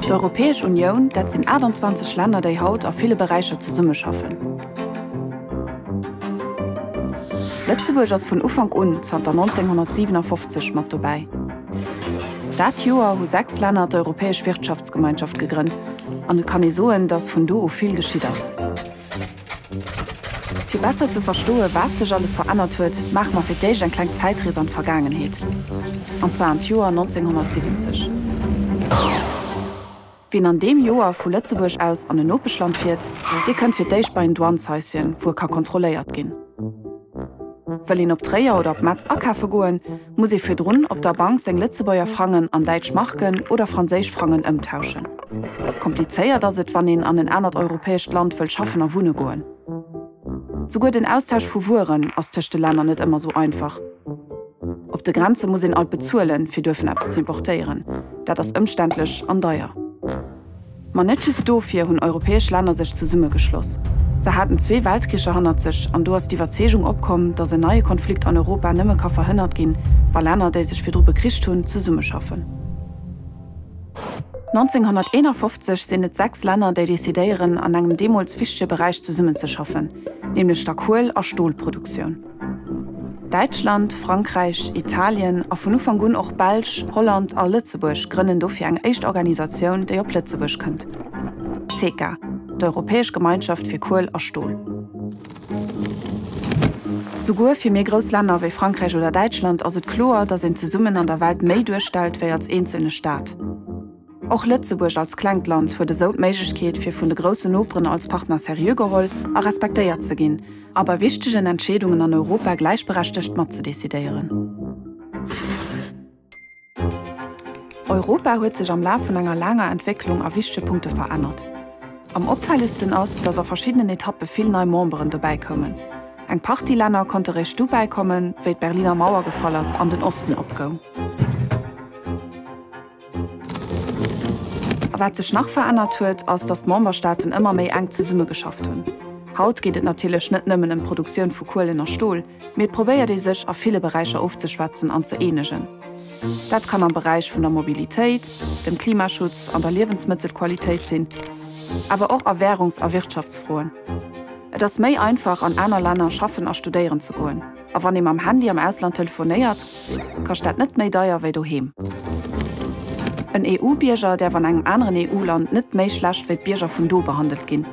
D'Europäesch Unioun, dat sinn 28 Länner, déi haut a ville Beräicher zesummeschaffen. Lëtzebuerg ass vun Ufank un, zanter 1957, mat dobäi. Dat Joer hu sechs Länner d'Europäesch Wirtschaftsgemeinschaft gegrënnt an et kann ee soen, datt vun do u vill geschitt ass. Fir besser ze verstoe wat sech alles verännert huet, maache mer fir d'éischt eng kleng Zäitrees an d'Vergaangenheet, an zwar an d'Joer 1970. Wien an deem Joer vu Lëtzebuerg aus an en Nopeschland fiert, dee kënnt fir d'éischt bei en Douaneshäuschen, wou e ka kontrolléiert ginn. Wëll een op Tréier oder op Metz akafe goen, Muss ee virdrun op der Bank seng Lëtzebuerger Frangen an däitsch Marken oder franséisch Frangen ëmtauschen? Komplizéiert ass et, wann een an en anert europäescht Land wëll schaffen a wunne goen. Souguer den Austausch vu Wueren ass tëscht de Länner net ëmmer esou einfach. Op de Grenze muss een alt bezuelen, fir duerfen eppes ze importéieren. Dat ass ëmständlech an deier. Ma net just dofir hunn europäesch Länner sech zesummegeschloss. Se haten zwee Weltkricher hannert sech an do ass d'Iwwerzeegung opkomm, datt en neie Konflikt an Europa nëmme ka verhënnert ginn, wa Länner, déi sech virdru bekricht hunn, zesummeschaffen. 1951 sinn et sechs Länner, déi decidéieren, an engem deemools wichtege Beräich zesummenzeschaffen, nämlech der Kuel a Stolproduktioun. Däitschland, Frankräich, Italien a vun Ufank un och Belsch, Holland a Lëtzebuerg grënnen dofir eng éischt Organisatioun, déi op Lëtzebuerg kënnt, d'CECA, d'Europäesch Gemeinschaft fir Kuel a Stol. Souguer fir méi grouss Länner wéi Frankräich oder Däitschland ass et kloer, datt een zesummen an der Welt méi duerstellt wéi als eenzelne Staat. Och Lëtzebuerg als klengt Land huet esou d'Méiglechkeet fir vun de groussen Noperen als Partner seriö geholl a respektéiert ze ginn a bei wichtegen Entscheedungen an Europa gläichberechtegt mat ze decidéieren. Europa huet sech am Laf vun enger laanger Entwécklung a wichtege Punkte verännert. Am opfällegsten ass, datt a verschiddenen Etappe vill nei Memberen dobäi koumen. Eng Partie Länner konnte réischt du bäikommen, wéi d'Berliner Mauer gefall ass an den Osten opgoung. A wat sech nach verännert huet, ass, datt d'Memberstaaten ëmmer méi enk zesummegeschafft hunn. Haut geet et natierlech net nëmmen ëm d'Produktioun vu Kuelen a Stol, mee et probéiert ee sech a ville Beräicher ofzeschwätzen an ze eenegen. Dat kann am Beräich vun der Mobilitéit, dem Klimaschutz, an der Liewensmëttelqualitéit sinn, awer och a Wärungs a Wirtschaftsfroen. Et ass méi einfach, an aner Länner schaffen a studéieren ze goen. A wann ee mam Handy am Ausland telefonéiert, kascht dat net méi deier wéi doheem. En EU-Bierger däerf an engem aneren EU-Land net méi schlecht wéi d'Bierger vun do behandelt ginn.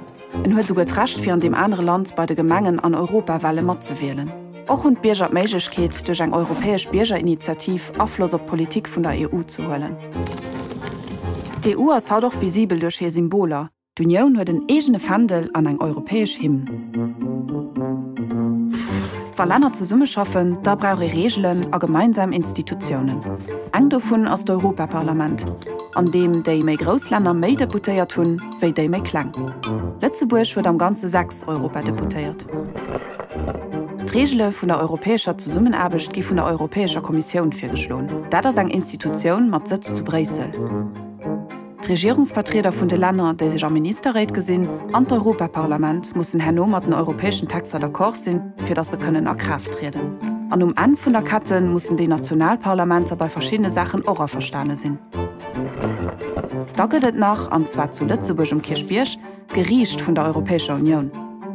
En huet souguer d'Recht, fir an deem anere Land bei de Gemengen an Europawale matzewielen. Och hunn d'Bierger d'Méiglechkeet, duerch eng europäesch Biergerinitiativ Afloss op d'Politik vun der EU ze huelen. D'EU ass haut och visibel duerch hir Symboler, D'Unioun huet en eegene Fändel an eng europäesch Hymn. Wa Länner zesummeschaffen, da brauch ee Reegelen a gemeinsam Institutiounen. Eng dovun ass d'Europaparlament, an deem déi méi grouss Länner méi Deputéiert hunn, wéi déi méi kleng. Lëtzebuerg huet am Ganze sechs Europadeputéiert. D'Reegele vun der europäescher Zesummenaarbecht gi vun der Europäescher Kommissioun virgeschloen. Dat ass eng Institutioun mat Sëtz zu Bréissel. D'Regierungsvertrieder vun de Länner, déi sech a Ministerréit gesinn, an d'Europaparlament mussen herno mat den europäeschen Texter d'accord sinn, fir datt se kënnen a Kraaft trieden. An um Enn vun der Kette mussen déi national Parlamenter bei verschiddene Saachen och averstane sinn. Da gëtt et nach, an zwar zu Lëtzebuerg um Kierchbierg, d'Geriicht vun der Europäescher Unioun.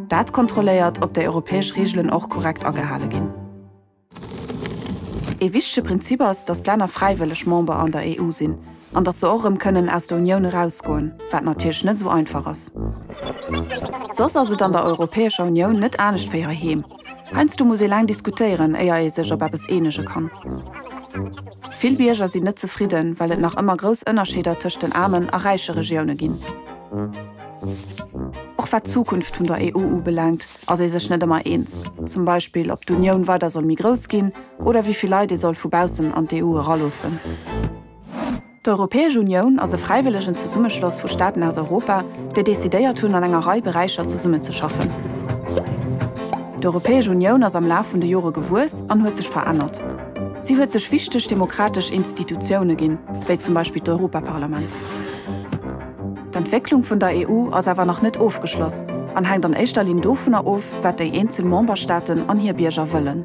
Dat kontrolléiert, ob déi europäesch Reegelen och korrekt agehale ginn. Ee wichtege Prinzip ass, datt d'Länner fräiwëlleg Member an der EU sinn an datt se och erëm kënnen aus der Unioun erausgoen, wat natierlech net esou einfach ass. Soss ass et an der Europäescher Unioun net anescht wéi heiheem. Heiansdo muss ee laang diskutéieren, éier ee sech op eppes eenege kann. Vill Bierger sinn net zefridden, well et nach ëmmer grouss Ënnerscheeder tëscht den aarmen a räiche Regioune ginn. Och wat d'Zukunft vun der EU ubelaangt, ass ee sech net ëmmer eens, zum Beispill ob d'Unioun weider soll méi grouss ginn oder wéi vill Leit ee soll vu baussen an d'EU eraloossen. D'Europäesch Unioun ass e fräiwëllegen Zesummeschloss vu Staaten aus Europa, déi decidéiert hunn an enger Rei Beräicher zesummenzeschaffen. D'Europäesch Unioun ass am Laf vun de Jore gewuess an huet sech verännert. Si huet sech wichteg demokratesch Institutioune ginn, wéi zum Beispill d'Europaparlament. D'Entwécklung vun der EU ass awer nach net ofgeschloss an hänkt an éischter Linn dovunner of, wat déi eenzel Memberstaaten an hir Bierger wëllen.